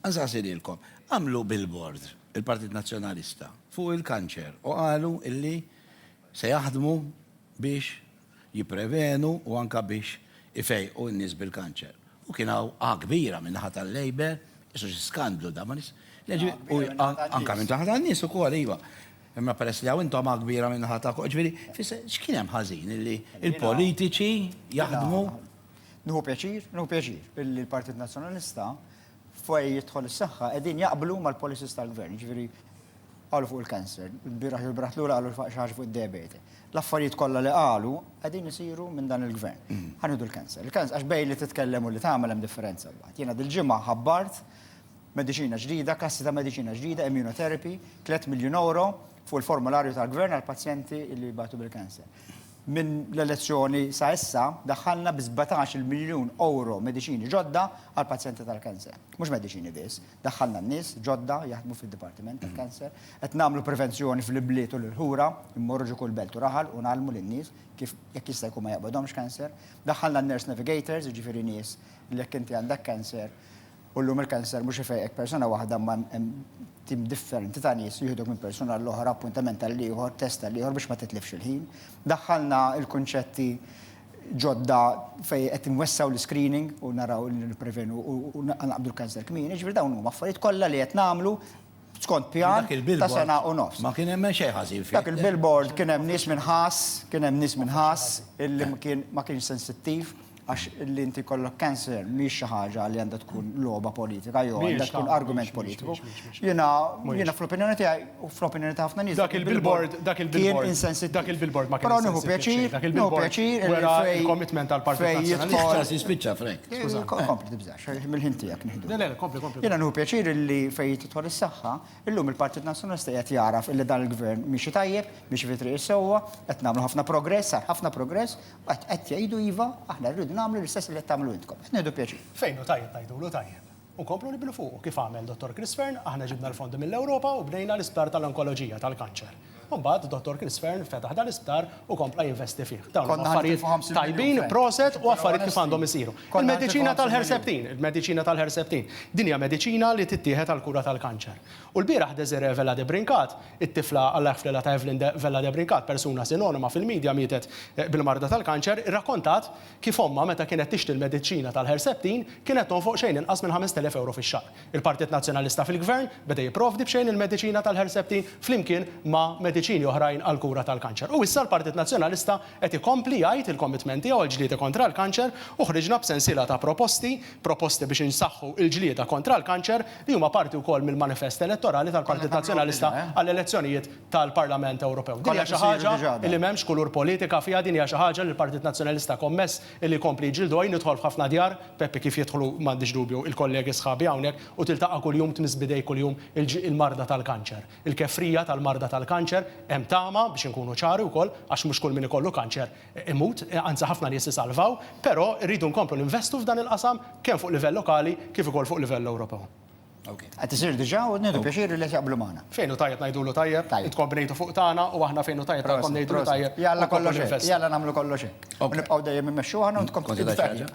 Għażagħżi lilkom. Għamlu billboard, il-Partit Nazzjonalista, fuq il-kanċer u qalu illi se jaħdmu biex jipprevenu u anke biex ifejqu n-nies bil-kanċer. U kien hawn A kbira min-naħa tal-Labour, qisu xi skandlu dan, ma nifs. Le ġi, u anke minn taħt għan-nies ukoll, iva. Imma peress li hawn intom A kbira min-naħa tagħkom, ġifieri, x'kien hemm ħażin illi l-politiċi jaħdmu. Nieħu pjaċir, nieħu pjaċir, illi l-Partit Nazzjonalista fej jidħol is-saħħa qegħdin jaqblu mal-policies tal-gvern, ġifieri qalu fuq il-cancer, il-bieraħ il-braħt lura qalu xi ħaġa fuq id-diabete. L-affarijiet kollha li qalu qegħdin isiru minn dan il-gvern. Mm. Ħanidu l-cancer. Il-cancer għax bejn li titkellem u li tagħmel hemm differenza mbagħad. Jiena dil-ġimgħa ħabbart mediċina ġdida, klassi ta' mediċina ġdida, immunotherapy, 3 miljun euro fuq il-formularju tal-gvern għal pazjenti li batu bil-cancer. Minn l-elezzjoni sa issa daħħalna bi sbatax il-miljun ewro mediċini ġodda għall-pazjenti tal-cancer. Mhux mediċini biss, daħħalna n-nies ġodda jaħdmu fid-dipartiment tal-cancer, qed nagħmlu prevenzjoni fl-ibliet u l-qura, immorru ġo kull belt u raħal u ngħallmu lin-nies kif jekk jista' jkun ma jaqbadhomx cancer. Daħħalna n-nurse navigators, jiġifieri nies li jekk inti għandek cancer, U llum il-kanser mhux ifejqek persuna waħda imma hemm tim differenti ta' nies li jieħduk minn persuna għall-oħra, appuntament għall-ieħor, test għall-ieħor biex ma titlifx il-ħin. Daħħalna l-kunċetti ġodda fejn qed inwessgħu l-iscreening u naraw li nipprevenu u naqbdu l-kanser kmieni, ġifieri dawn huma affarijiet kollha li qed nagħmlu skont pjan ta' sena u nofs. Ma kien hemm xejn ħażin fih. Dak il-billboard kien hemm nies minn Ħass, kien hemm nies minn Ħass illi ma kienx sensittiv. Għax li inti kollok cancer mhix xi ħaġa li għandha tkun logħba politika jew għandha tkun argument politiku. Jiena jiena fl-opinjoni tiegħi u fl-opinjoni ta' ħafna nies. Dak il-billboard, dak il-billboard, dak il-billboard ma kienx nieħu pjaċir, dak il-billboard wera il-commitment tal-Partit Nazzjonalista. Spiċċa Frank. Skuża, kompli tibżax, mill-ħin tiegħek nieħdu. Le, le, kompli, kompli. Jiena nieħu pjaċir li fejn tidħol is-saħħa, illum il-Partit Nazzjonalista qed jagħraf li dan il-Gvern miexi tajjeb, miexi fi triq is-sewwa, qed nagħmlu ħafna progress, sar ħafna progress Qed jgħidu iva, aħna rridu nagħmlu l-istess li qed tagħmlu intkom. Qed nieħdu pjaċir. Fejn hu tajjeb ngħidulu tajjeb. U nkomplu nibnu fuqu. Kif għamel Dottor Chris Fearne, aħna ġibna l-fondi mill-Ewropa u bnejna l-isptar tal-onkoloġija, tal-kanċer. U mbagħad Dottor Chris Fearne fetaħ dan l-isptar u kompla jinvesti fih. Dawn huma affarijiet tajbin, proset u affarijiet kif għandhom isiru. Il-mediċina tal-Herceptin, il-mediċina tal-Herceptin. Din hija mediċina li tittieħed għall-kura tal-kanċer. U lbieraħ Désirée Vella de Brincat, it-tifla Alla jħfrilha ta' Evelyn de Vella de Brincat, persuna sinonima fil-midja mietet bil-marda tal-kanċer, irrakkontat kif ommha meta kienet tixtri l-mediċina tal-Herceptin kienet tonfoq xejn inqas minn 5,000 ewro fix-xahar. Il-Partit Nazzjonalista fil-Gvern beda jipprovdi b'xejn il-mediċina tal-Herceptin flimkien ma' mediċini oħrajn għall-kura tal-kanċer. U issa l-Partit Nazzjonalista qed ikompli jgħid il-commitment tiegħu għall-ġlieda kontra l-kanċer u ħriġna b'sensiela ta' proposti proposti biex insaħħu l-ġlieda kontra l-kanċer li huma parti wkoll mill-manifest elettorali tal-Partit Nazzjonalista għall-elezzjonijiet tal-Parlament Ewropew. Din hija xi ħaġa li m'hemmx kulur politika fiha, din hija xi ħaġa li l-Partit Nazzjonalista kommess li jkompli jġildu hi. Nidħol f'ħafna djar, Peppi, kif jidħlu, m'għandix dubju, il-kollegi sħabi hawnhekk u tiltaqa' kuljum, tmiss b'idejk kuljum il-marda tal-kanċer. Il-kefrija tal-marda tal-kanċer, hemm tama, biex inkunu ċari wkoll, għax mhux kull min ikollu kanċer, imut, anzi ħafna nies isalvaw, però rridu nkomplu ninvestu f'dan il-qasam kemm fuq livell lokali kif ukoll fuq livell Ewropew. Ok. Qed isir diġà u nieħdu pjaċir li qed jaqblu magħna. Fejn hu tajjeb ngħidulu tajjeb, intkom bnejtu fuq tagħna u aħna fejn hu tajjeb tagħkom ngħidulu tajjeb u nkomplu ninvestu. Jalla kollox hekk, jalla nagħmlu kollox hekk. U nibqgħu dejjem immexxu aħna u intkom tieħdu tarif.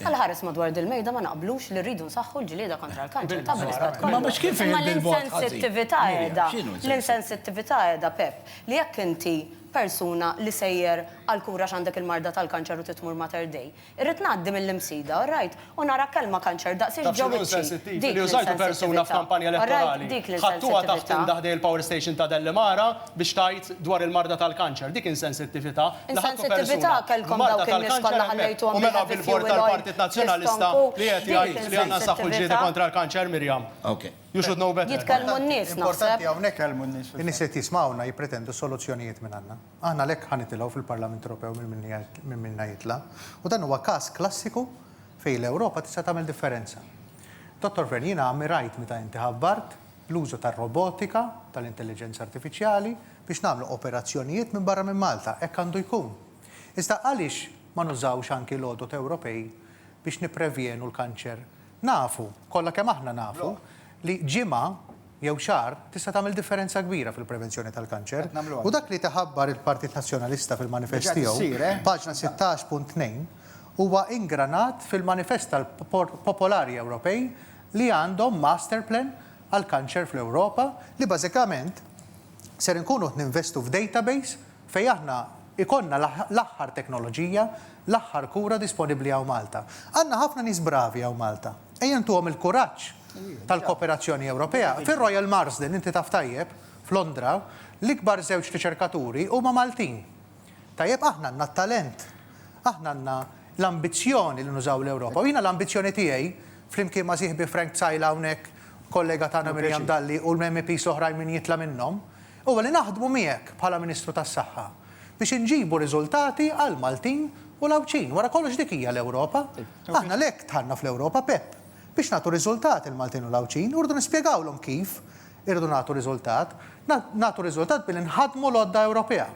Bħala ħares madwar dil-mejda ma naqblux li rridu nsaħħu l-ġlieda kontra l-kanċer ta' bl-istat kollu. Imma mhux kif Imma jgħid il-bogħod ħażin. l-insensittività Mirja, qiegħda, x'inhu insensittiv? l-insensittività qiegħda, Pepp, li jekk inti persuna li sejjer għall-kura għax għandek il-marda tal-kanċer u trid tmur Mater Dei, irrid ngħaddi mill-Imsida, all right, u nara kelma kanċer daqsiex Taf ġo x'inhu wiċċi. insensittiv? Dik Li użajtu persuna l-insensittività. f'kampanja All right, elettorali, dik ħadtuha taħt l-insensittività. imdaħ dei il-power station ta' Dellimara, biex tgħid dwar il-marda tal-kanċer. Dik insensittività li ħadtu persuna b'marda tal-kanċer hemmhekk u mela billboard tal-Partit Nazzjonalista li qiegħed jgħid li għandna nsaħħu l-ġlieda kontra l-kanċer, Miriam. You should know better. Importanti hawnhekk li nies li qed jismgħuna jippretendu soluzzjonijiet minn għandna. Aħna għalhekk ħa nitilgħu fil-Parlament Ewropew minn minna jitla'. U dan huwa każ klassiku fejn l-Ewropa tista' tagħmel differenza. Dottor Fearne, jiena ammirajt meta inti ħabbart, l-użu tar-robotika, tal-intelliġenza artifiċjali, biex nagħmlu operazzjonijiet minn barra minn Malta. Hekk għandu jkun. Iżda għaliex ma nużawx anki l-għodod Ewropej biex nipprevjenu l-kanċer? Nafu, kollha kemm aħna nafu, li ġimgħa jew xahar tista' tagħmel differenza kbira fil-prevenzjoni tal-kanċer. U dak li qed iħabbar il-Partit Nazzjonalista fil-manifest tiegħu, paġna 16.2, huwa ingranat fil-manifest tal-popolari Ewropej li għandhom master plan għall-kanċer fl-Ewropa li bażikament ser inkunu qed ninvestu f'database fejn aħna jkollna l-aħħar teknoloġija, l-aħħar kura disponibbli hawn Malta. Għandna ħafna nies bravi hawn Malta. Ejja ntuhom il-kuraġġ tal-kooperazzjoni Ewropea. Fir-Royal Marsden, inti taf tajjeb, f'Londra, l-ikbar żewġ riċerkaturi huma Maltin. Tajjeb, aħna għandna t-talent, aħna għandna l-ambizzjoni li nużaw l-Ewropa. U jiena l-ambizzjoni tiegħi, flimkien ma' sieħbi Frank Zajla hawnhekk, kollega tagħna Miriam Dalli u l-MEPs l-oħrajn min jitla' minnhom, huwa li naħdmu miegħek bħala Ministru tas-Saħħa biex inġibu riżultati għall-Maltin u l-Għawdxin. Wara kollox dik hija l-Ewropa. Aħna għalhekk dħalna fl-Ewropa, Pepp, biex nagħtu riżultati l-Maltin u l-Għawdxin u rridu nispjegawlhom kif Irridu nagħtu riżultat. Nagħtu riżultat billi nħaddmu l-għodda Ewropea.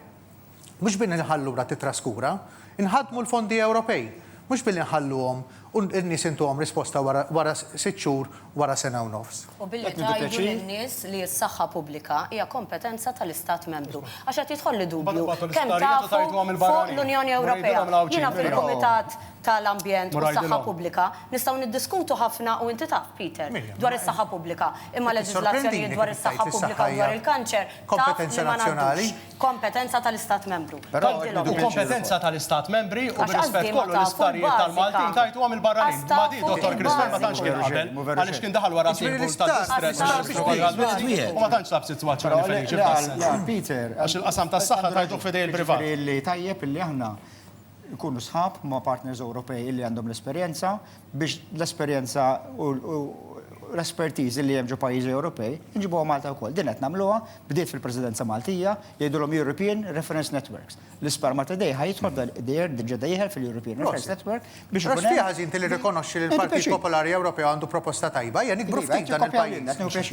Mhux billi nħallu lura titraskura. Inħaddmu l-fondi Ewropej. Mhux billi nħalluhom u n-nies intuhom risposta wara sitt xhur, wara sena u nofs. U billi tgħidu lin-nies li s-saħħa pubblika hija kompetenza tal-Istat Membru. Għax qed jidħolli dubju kemm tafu fuq l-Unjoni Ewropea. Jiena fil-Kumitat ta' l-ambjent u s-saħħa pubblika, nistgħu niddiskutu ħafna u inti taf, Peter, dwar is-saħħa pubblika, imma leġiżlazzjonijiet dwar is-saħħa pubblika u dwar il-kanċer taf li ma ngħaddux. Kompetenza ta' l-Istat Membru. Tgħidilhom. U kompetenza ta' l-Istat Membri u bir-rispett kollu l-isptarijiet tal-Maltin tgħidtuhom il-barranin. Ma di Dottor Christman ma tantx kien qabel, għaliex kien daħal wara simbolu ta' distress u xi ħaġa bħal din u ma tantx sab sitwazzjoni feliċi f'dan is-sens. Għax il-qasam tas-saħħa tgħiduh f'idejn il-privat. jkunu sħab ma' partners Ewropej illi għandhom l-esperjenza biex l-esperjenza u l-espertiż li hemm ġo pajjiżi Ewropej inġibuha Malta wkoll. Din qed nagħmluha, bdiet fil-Presidenza Maltija, jgħidulhom European Reference Networks. L-Isparmata Day ħa jidħol f'dan id-dejjer diġà dejħel fil-European Reference Network biex ikun. Għax fiha ħażin tilli rikonoxxi li l-Partit Popolari Ewropew għandu proposta tajba, ejja nikbru ftit dan il-pajjiż.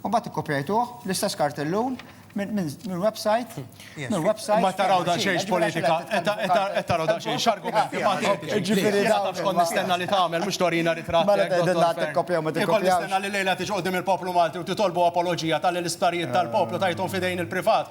U mbagħad ikkopjajtuh bl-istess kartellun minn website, minn website. Ma taraw da xejn politika, qed taraw da xejn x'argumenti ma tgħidx. Ġifieri da taf xkont nistenna li tagħmel mhux torina ritratt. Mela tgħidilna tikkopja ma tikkopjax. Kont nistenna li lejla tiġi qudiem il-poplu Malti u titolbu apoloġija tal-isptarijiet tal-poplu tajthom f'idejn il-privat.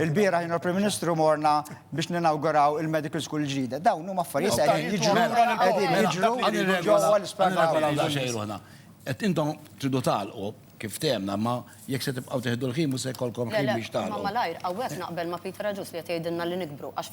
Il-bieraħ jien u l-Prim Ministru morna biex ninawguraw il-Medical School ġdida. Dawn huma affarijiet se qegħdin jiġru, qegħdin jiġru ġewwa l-isptar. Qed intom tridu tagħlqu kif ftemna, imma jekk se tibqgħu tieħdu l-ħin mhux se jkollkom ħin biex tagħlqu. Le, le, imma malajr, hawnhekk naqbel ma' Peter Agius li qed jgħidilna li nikbru għax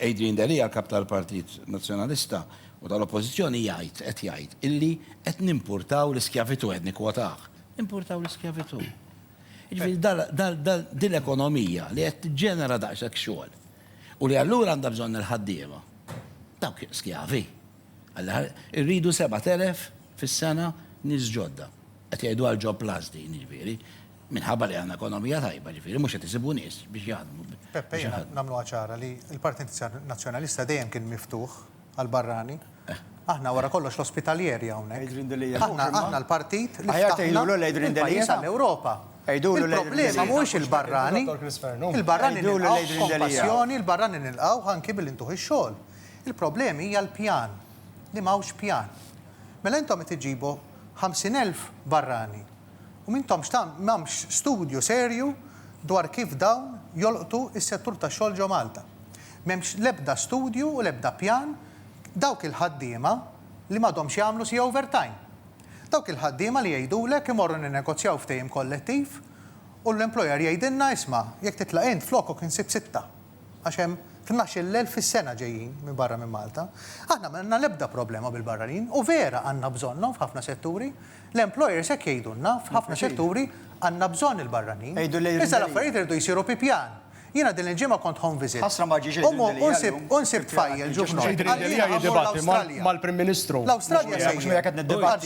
Adrian Delia, Kap tal-Partit Nazzjonalista u tal-Oppożizzjoni jgħid, qed jgħid, illi qed nimpurtaw l-iskjavitù, qed nikkwotah, nimpurtaw l-iskjavitù. Jiġifieri da, da, da, din l-ekonomija li qed tiġġenera daqshekk xogħol u li allura għandha bżonn il-ħaddiema, dawk skjavi. Alla, irridu sebat elef fis-sena nies ġodda. Qed jgħidu għal Job Plus din, jiġifieri, minħabba li għandna ekonomija tajba, jiġifieri mhux qed isibu nies biex jaħdmu. Peppe, jiena nagħmluha ċara li l-Partit Nazzjonalista dejjem kien miftuħ għall-barrani. Aħna wara kollox l-ospitalierja hawnhekk. Aħna, aħna l-partit li ftaħna għall-Ewropa. Il-problema mhuwiex il-barrani. Il-barrani nilqgħuh b'kompassjoni, il-barrani nilqgħuh anki billi ntuh ix-xogħol. Il-problemi hija l-pjan, li m'hawnx pjan. Mela intom qed iġġibu 50,000 barrani u m'intomx ta' m'hemmx studju serju dwar kif dawn jolqtu s-settur tax-xogħol ġo Malta. M'hemmx l-ebda studju u l-ebda pjan dawk il-ħaddiema li m'għadhomx jagħmlu siegħa overtime. Dawk il-ħaddiema li jgħidulek imorru ninnegozjaw ftehim kollettiv u l-employer jgħidilna isma' jekk titlaq int flokok insib sitta. għax hemm tnax-il elf fis-sena ġejjin minn barra minn Malta. Aħna m'għandna l-ebda problema bil-barranin u vera għandna bżonnhom f'ħafna setturi. L-employers hekk jgħidulna, f'ħafna setturi għandna bżonn il-barranin. Iżda l-affarijiet iridu jsiru bi pjan. Jiena din il-ġimgħa kont home visit. Ħasra ma ġiex għidu l-Delija llum. U nsibt fajjel ġuvnol. Għalli jiena ħammur l-Awstralja. Mal-Prim Ministru. L-Awstralja sejjer. Mhux miegħek qed niddibatti.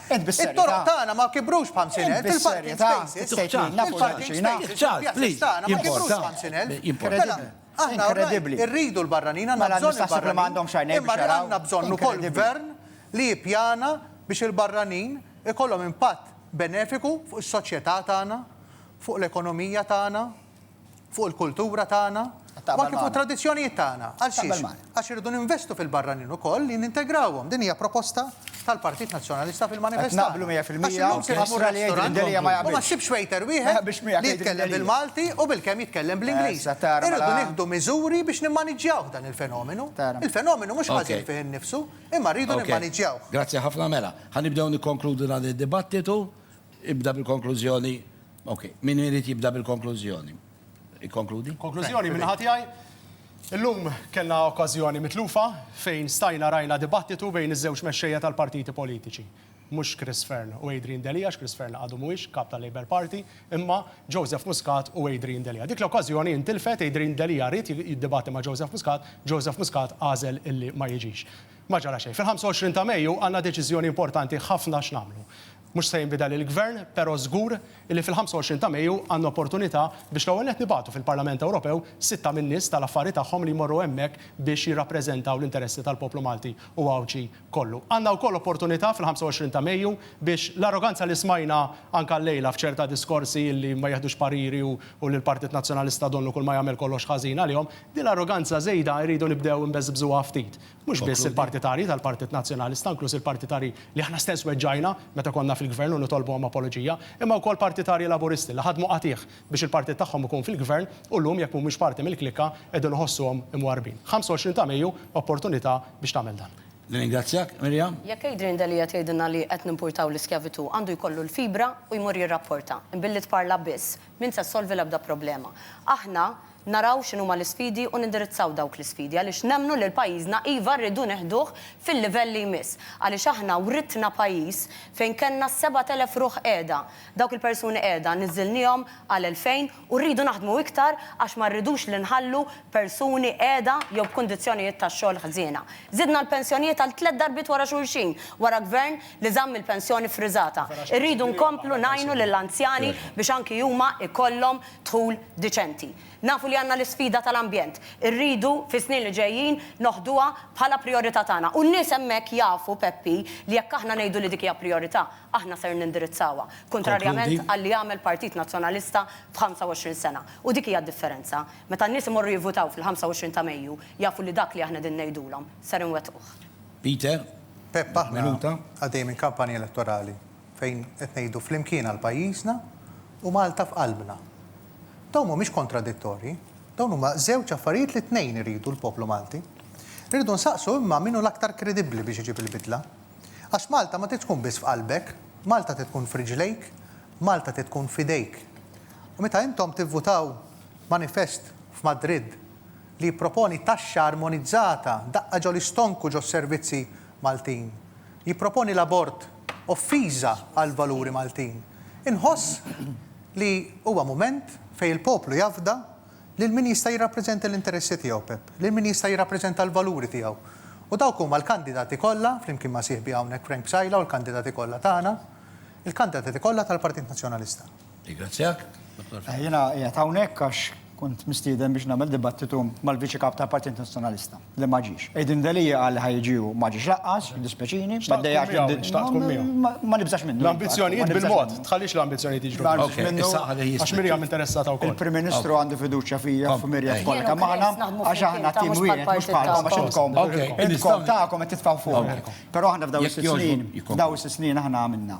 It-toroq tagħna ma kibrux b'ħamsin elf, il-parking spaces, il-parking spaces, il-pjazzi tagħna ma kibrux b'ħamsin elf. Mela, aħna rridu l-barranin, għandna bżonn il-barranin, imma għandna bżonn ukoll gvern li jippjana biex il-barranin ikollhom impatt benefiku fuq is-soċjetà tagħna, fuq l-ekonomija tagħna. fuq il-kultura tagħna u anke fuq it-tradizzjonijiet tagħna. Għal xiex? Għax irridu ninvestu fil-barranin ukoll li nintegrawhom. Din hija proposta tal-Partit Nazzjonalista fil-manifest. Naqblu 100%. U ma ssibx waiter wieħed li jitkellem bil-Malti u bilkemm jitkellem bl-Ingliż. Irridu nieħdu miżuri biex nimmaniġġjaw dan il-fenomenu. Il-fenomenu mhux ħażin fih innifsu, imma rridu nimmaniġġjawh. Grazzi ħafna. Mela, ħa nibdew nikkonkludu dan id-dibattitu. Ibda bil-konklużjoni. Ok, min irid jibda bil-konklużjoni? Ikkonkludi? Konklużjoni minn ħadd jgħid. Illum kellna okkażjoni mitlufa fejn stajna rajna dibattitu bejn iż-żewġ mexxejja tal-partiti politiċi. Mhux Chris Fearne u Adrian Delia, għax Chris Fearne għadu mhuwiex Kap tal-Labour Party, imma Joseph Muscat u Adrian Delia. Dik l-okkażjoni intilfet, Adrian Delia ried jiddibatti ma' Joseph Muscat, Joseph Muscat għażel illi ma jiġix. Ma ġara xejn. Fil-25 ta' Mejju għandna deċiżjoni importanti ħafna x'nagħmlu. Mhux se jinbidel il-Gvern, però żgur illi fil-25 ta' Mejju għandna opportunità biex l-ewwel nett nibagħtu fil-Parlament Ewropew sitta min-nies tal-affari tagħhom li jmorru hemmhekk biex jirrappreżentaw l-interessi tal-poplu Malti u Għawdxi kollu. Għandna wkoll opportunità fil-25 ta' Mejju biex l-arroganza li smajna anke llejla f'ċerta diskorsi illi ma jiħdux pariri u li l-Partit Nazzjonalista donnu kulma jagħmel kollox ħażin għalihom, din l-arroganza żejda rridu nibdew inbeżbżuha ftit. Mhux biss il-partitarji tal-Partit Nazzjonalista, inkluż il-partitarji li aħna stess weġġajna meta konna fil-Gvern u nitolbuhom apoloġija, imma wkoll partitarji Laburisti li ħadmu qatigħ biex il-partit tagħhom ikun fil-Gvern u llum jekk mhumiex parti mill-klikka qegħdin iħossuhom imwarrbin. 25 ta' Mejju, opportunità biex tagħmel dan. Nirringrazzjak, Miriam. Jekk Adrian Delia tgħidilna li qed nimpurtaw l-iskjavitù, għandu jkollu l-fibra u jmur jirrapporta. Imbilli tparla biss, m'int se ssolvi l-ebda problema. Aħna, naraw x'inhuma l-isfidi u nindirizzaw dawk l-isfidi għaliex nemmnu lil pajjiżna iva rridu neħduh fil-livell li jmiss għaliex aħna writna pajjiż fejn kellna s-sebat elef ruħ qiegħda, dawk il-persuni qiegħda niżżilniehom għal elfejn u rridu naħdmu iktar għax ma rridux li nħallu persuni qiegħda jew b'kundizzjonijiet tax-xogħol ħżiena. Żidna l-pensjonijiet għal tliet darbiet wara xulxin wara gvern li żamm il-pensjoni ffriżata. Irridu nkomplu ngħinu lill-anzjani biex anki huma jkollhom dħul diċenti. Nafu li għandna l-isfida tal-ambjent. Irridu, fis-snin li ġejjin, noħduha bħala prijorità tagħna. U n-nies hemmhekk jafu, Peppi, li jekk aħna ngħidu li dik hija prijorità, aħna ser nindirizzawha. Kuntrarjament għal li għamel Partit Nazzjonalista f'ħamsa-u-għoxrin sena. U dik hija d-differenza. Meta n-nies imorru jivvutaw fil-ħamsa-u-għoxrin ta' Mejju, jafu li dak li aħna qegħdin ngħidulhom, ser inwettquh. Peter, Pepp, aħna għaddejjin minn kampanja elettorali. fejn qed ngħidu flimkien għal pajjiżna u Malta f'qalbna. Dawn mhumiex kontradittorji, dawn huma żewġ affarijiet li t-tnejn iridu l-poplu Malti. Irridu nsaqsu imma min hu l-aktar kredibbli biex iġib il-bidla. Għax Malta ma trid tkun biss f'qalbek, Malta trid tkun f'riġlejk, Malta trid tkun f'idejk. U meta intom tivvutaw manifest f'Madrid li jipproponi taxxa armonizzata daqqa ġol-istonku ġos-servizzi Maltin, Jipproponi l-abort offiża għall-valuri Maltin. Inħoss li huwa mument fejn il-poplu jafda lil min jista' jirrappreżenta l-interessi tiegħu, Pepp, lil min jista' jirrappreżenta l-valuri tiegħu. U dawk huma l-kandidati kollha, flimkien ma' sieħbi hawnhekk Frank Psaila u l-kandidati kollha tagħna, il-kandatati kollha tal-Partit Nazzjonalista. Nirringrazzjak, Dottor Fitto. Jiena qiegħed hawnhekk għax kont mistieden biex nagħmel dibattitu mal-Viċi Kap tal-Partit Nazzjonalista, li ma ġiex. Aiden Delia qal li ħa jiġi u ma ġiex lanqas, jiddispjaċini. Xtaqt tkun miegħu, xtaqt tkun miegħu. Ma nibżax minnu. L-ambizzjonijiet bil-mod, tħallix l-ambizzjonijiet jiġru. Ma nibżax minnu. Issa ħalli jisma'. Għax Miriam interessata wkoll. Il-Prim Ministru għandu fiduċja fija u f'Miriam tkollha kemm aħna għax aħna tim wieħed mhux bħalkom għax intkom intkom tagħkom qed titfgħu fuqna. Però aħna f'dawn is-sitt snin, f'dawn is-sitt snin aħna għamilna.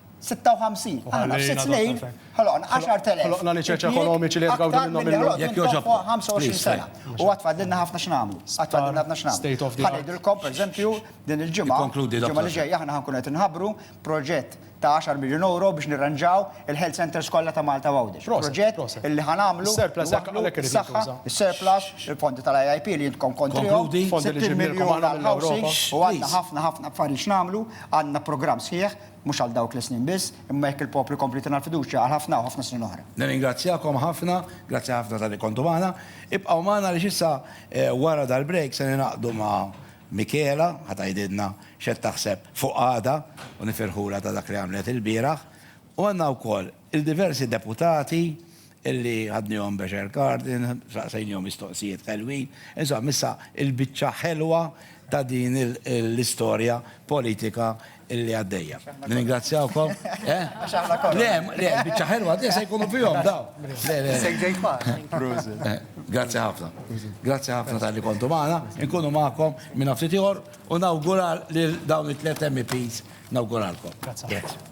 56. Aħna f'sitt snin ħloqna 10,000. Ħloqna l-iċeċ ekonomiċi li qed jgawdu minnhom illum. Jekk jogħġobkom. Fuq 25 sena. U għad fadlilna ħafna x'nagħmlu. Għad fadlilna ħafna x'nagħmlu. Ħa ngħidilkom, pereżempju, din il-ġimgħa, il-ġimgħa li ġejja aħna ħankunu qed inħabbru proġett ta' għaxar miljun ewro biex nirranġaw il-health centres kollha ta' Malta u Għawdex. Proġett illi ħa nagħmlu. Surplus hekk għalhekk irid jintuża. Is-surplus, il-fondi tal-IIP li intkom kontrihom. Fondi li ġejjin mill-Ewropa. U għandna ħafna ħafna affarijiet x'nagħmlu. Għandna programm sħiħ. mhux għal dawk l-snin biss, imma jekk il-poplu jkompli jtina l-fiduċja għal ħafna u ħafna snin oħra. Nirringrazzjakom ħafna, grazzi ħafna talli kontu magħna. Ibqgħu magħna għaliex issa wara dal-break se ningħaqdu ma' Michela ħa tgħidilna x'qed taħseb fuq għada u nifirħulha ta' dak li għamlet ilbieraħ. U għandna wkoll Il-diversi deputati li għadnihom Becher Cardin, saqsejnihom mistoqsijiet ħelwin. Insomma, issa l-biċċa ħelwa ta' din l-istorja politika li għaddejja. Nirringrazzjawkom. Għax aħna konna. Le, le, biċċa ħelwa għaddejja se jkunu fihom dawn. Le, le. Issek ġejt magħna. Prosit. Grazzi ħafna. Grazzi ħafna talli kontu magħna. Inkunu magħkom minn ftit ieħor u nawgura lil dawn it-tliet MEPs nawguralkom. Grazzi.